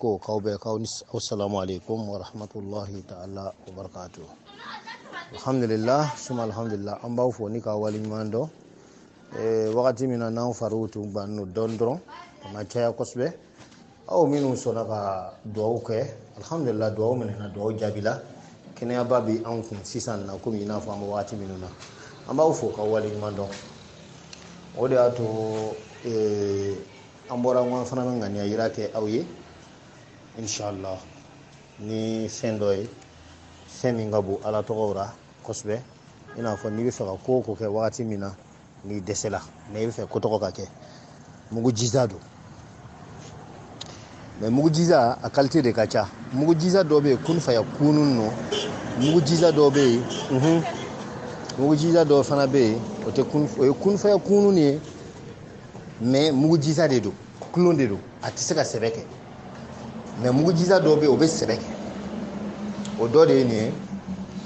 ko kaw bɛɛ kaw ni aw salamu aleykum wa rahmatullahi taala wa barakatu alhamdulillah suma alhamdulillah an b'aw fo ni ka wali ɲuman dɔn eh, wagati min na n'anw fariw tun bannen don dɔɔni dɔrɔn a ma caya kosɛbɛ aw minnu sɔnna ka duwawu kɛ alhamdulillah duwawu minɛna duwawu jaabila kɛnɛyaba bɛ anw kun sisan na komi i n'a fɔ an bɛ wagati minnu na an b'aw fo ka wale ɲuman dɔn o de y'a to ee an bɔra n ko an fana bɛ ŋaniya yira kɛ aw ye inshallah ni fɛn dɔ ye fɛn min ka bon ala tɔgɔw ra kosɛbɛ i n'a fɔ n'i bɛ fɛ ka ko o ko kɛ wagati min na n'i dɛsɛla mɛ i bɛ fɛ ko tɔgɔ ka kɛ mugujiza don mɛ mugujiza a kalite de ka ca mugujiza dɔ bɛ yen kun faya kunun nɔ mugujiza dɔ bɛ yen mugujiza dɔ fana bɛ yen o tɛ kun o tɛ kun faya kunun ye mɛ mugujiza de don kolon de don a tɛ se ka sɛbɛ kɛ mɛ mugujiza dɔ bɛ yen o bɛ sɛbɛ kɛ o dɔ de ye nin ye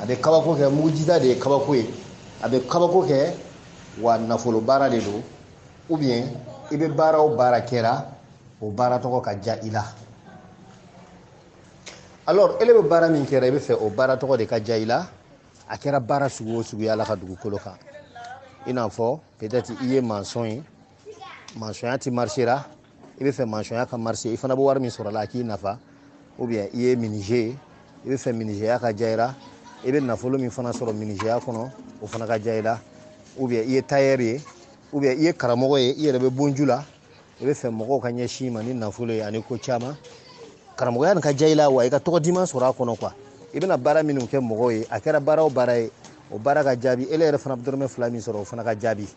a bɛ kabako kɛ mugujiza de ye kabako ye a bɛ kabako kɛ wa nafolo baara de don ou bien i bɛ baara o baara kɛra o baara tɔgɔ ka diya i la alors ele bɛ baara min kɛra i bɛ fɛ o baara tɔgɔ de ka diya i la a kɛra baara sugu o suguya la ka dugukolo kan i n'a fɔ peut-être i ye mansɔn ye mansɔnya tɛ marsera i bɛ fɛ mansɔnya ka marse i fana bɛ wari min sɔrɔ a la a k'i nafa ou bien i ye minije ye i bɛ fɛ minijeya ka diya i la i bɛ nafolo min fana sɔrɔ minijeya kɔnɔ o fana ka diya i la ou bien i ye tailleur ye ou bien i ye karamɔgɔ ye i yɛrɛ bɛ bonju la i bɛ fɛ mɔgɔw ka ɲɛsin i ma ni nafolo ye ani ko caman karamɔgɔya nin ka diya i la wa i ka tɔgɔ diman sɔrɔ a kɔnɔ quoi i bɛna baara minnu kɛ mɔgɔw ye a kɛra baara o baara ye o baara ka jaabi ele yɛrɛ fana bɛ dɔrɔmɛ fila min sɔrɔ o fana ka jaabi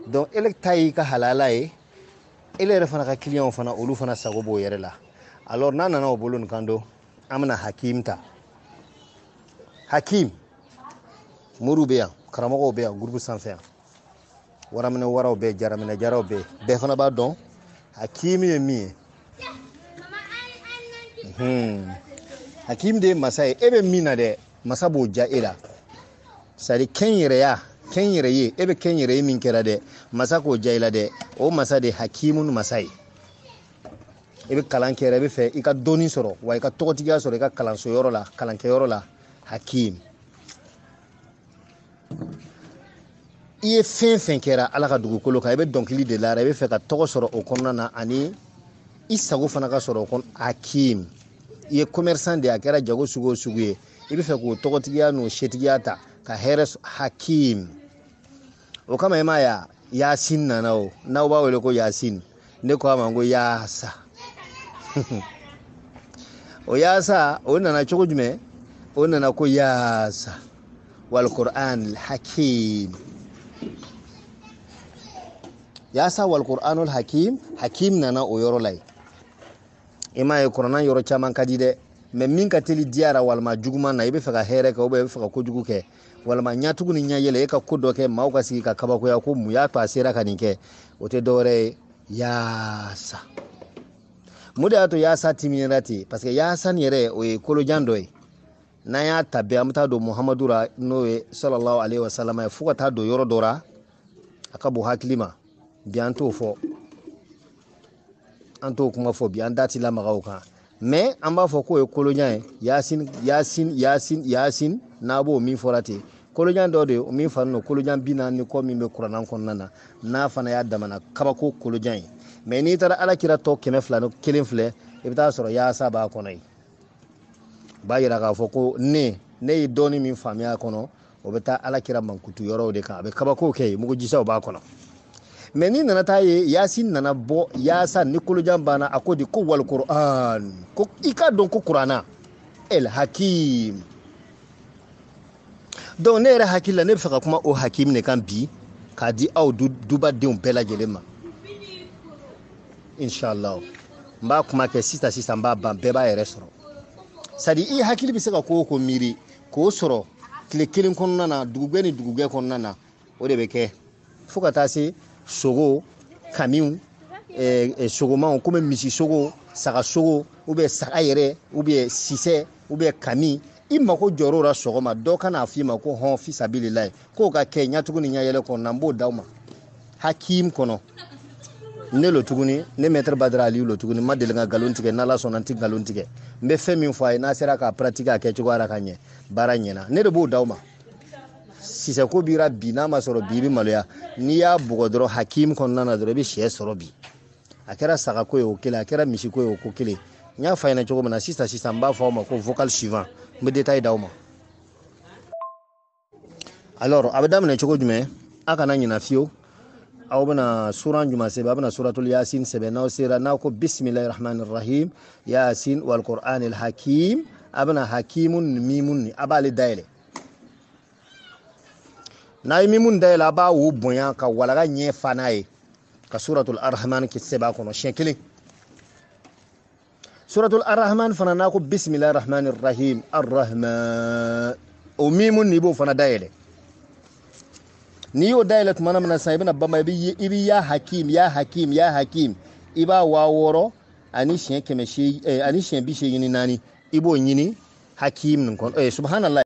donc ele ta y'i ka halala ye ele yɛrɛ fana ka kiliyanw fana olu fana sago b'o yɛrɛ la alors n'a nana o bolo nin kan don an bɛna hakim ta hakim moriw bɛ yan karamɔgɔw bɛ yan gurupu sanfɛ yan waraminɛ waraw bɛ jaraminɛ jaraw bɛ bɛɛ fana b'a dɔn hakim ye min ye Hmm. hakim de ye masa ye e bɛ min na dɛ masa b'o diya e la sari kɛnyɛrɛye kɛnyɛrɛye e bɛ kɛnyɛrɛye min kɛra dɛ masa k'o diya i la dɛ o masa de ye hakimun masa ye e bɛ kalan kɛ yɛrɛ e bɛ fɛ i ka dɔnni sɔrɔ wa i ka tɔgɔtigiya sɔrɔ i ka kalanso yɔrɔ la kalankɛyɔrɔ la hakim i ye fɛn fɛn kɛra ala ka dugukolo kan i bɛ dɔnkili de lara i bɛ fɛ ka tɔgɔ sɔrɔ o kɔnɔna na ani i sago fana ka sɔrɔ o kɔnɔ hakim i ye commerçant de a kɛra jago sugu o sugu ye i bɛ fɛ k'o tɔgɔtigiya n'o setigiya ta ka hɛrɛ hakim o kama i m'a ye yasin nana o n'aw b'a wele ko yasin ne ko a ma n ko yaasa o yaasa o nana cogo jumɛn o nana ko yaasa walquranul hakim yaasa walquranul hakim hakim nana o yɔrɔ la yen i m'a ye kuranna yɔrɔ caman ka di dɛ mais min ka teli diyara walima juguman na i bɛ fɛ ka hɛrɛ kɛ ou bien i bɛ fɛ ka kojugu kɛ walama ɲatugu ni ɲayɛlɛ e ka ko dɔ kɛ maaw ka sigi ka kabakoya ko mun y'a to a sera ka nin kɛ o tɛ dɔwɛrɛ ye yaasa mun de y'a to yaasa timiɲɛna ten parce que yaasa nin yɛrɛ o ye kolojan dɔ ye n'an y'a ta bɛɛ an bɛ taa don muhamadu ra n'o ye salalahu aleyihi wa salama ye fo ka taa don yɔrɔ dɔ ra a ka bon hakili ma bi an t'o fɔ an t'o kuma fɔ bi an da ti lamaga o kan mais an b'a fɔ k'o ye kolojan ye yasin yasin yasin yasin n'a b'o min fɔra ten kolojan dɔ de ye min fari don kolojan bi naani ni kɔ min bɛ kuranna kɔnɔna na n'a fana y'a damana kabako kolojan ye mais n'i taara ala kira tɔɔ kɛmɛ fila ni kelen filɛ i bɛ taa sɔrɔ yaasa b'a kɔnɔ yen b'a yira k'a fɔ ko ne ne ye dɔɔni min faamuya a kɔnɔ o bɛ taa ala kira mankutu yɔrɔw de kan a bɛ kabakow kɛ yen mugujisaw b'a kɔnɔ mais n'i nana taa ye yasin nana bɔ yaasa nin kolojanba na a ko di ko walikuran ko i k'a dɔn ko kuranna el hakim donc ne yɛrɛ hakili la ne bɛ fɛ ka kuma o hakim de kan bi k'a di aw dubadenw bɛɛ lajɛlen ma inshallah n b'a kuma kɛ sisan sisan n b'a ban bɛɛ b'a yɛrɛ sɔrɔ c'est-à-dire i hakili bɛ se ka ko o ko miiri k'o sɔrɔ tile kelen kɔnɔna na dugugwɛ ni dugugwɛ kɔnɔna na o de bɛ kɛ fo ka taa se sogo kamiw eh, eh, sogomanw komi misi sogo saga sogo ou bien saga yɛrɛ ou bien sisɛ ou bien kami i mako jɔr'o la sɔgɔma dɔ ka n'a f'i ma ko hɔn fisabililahi k'o ka kɛ ɲatugu ni ɲayɛlɛ kɔnɔna n b'o d'aw ma hakim kɔnɔ ne lo tuguni ne maître badara aliyu lo tuguni n ma deli ka nkalon tigɛ n'ala sɔnna n tɛ nkalon tigɛ n bɛ fɛn min fɔ a ye n'a sera k'a pratiquer a kɛcogoya la ka ɲɛ baara ɲɛna ne de b'o d'aw ma sisɛko bira bi n'a ma sɔrɔ bi i bɛ maloya n'i y'a bugɔ dɔrɔn hakim kɔnɔna na dɔrɔn i bɛ sɛ sɔrɔ bi a kɛra sagako ye o kelen a kɛra misiko ye o ko kelen n y'a fɔ a ɲɛ na cogo min na sisan sisan n b'a fɔ aw ma ko vocal suivant n bɛ détail d'aw ma alors a bɛ daminɛ cogo jumɛn a kana ɲina fiyewu aw bɛna suran jumɛn sɛbɛn a bɛna suratul yasin sɛbɛn n'aw sera n'aw ko bisimilahi rahmani rahim yasin walqur'anil hakim a bɛna hakimu nin mimun nin a b'ale dayɛlɛ n'a ye mimun dayɛlɛ a b'a wo bonya ka walaga ɲɛ fa n'a ye ka suratul arrahmani sɛbɛn a kɔnɔ siɲɛ kelen suratul arahman fana n'a ko bisimilahi rahmani rahim arahman o mimu n'i b'o fana dayɛlɛ n'i y'o dayɛlɛ tuma min na sisan i bɛna bama i bɛ ya hakim ya hakim ya hakim i b'a waa wɔɔrɔ ani siɲɛ kɛmɛ seegin eh, ani siɲɛ bi seegin ni naani i b'o ɲini hakim nin kɔnɔ eh, subhanallah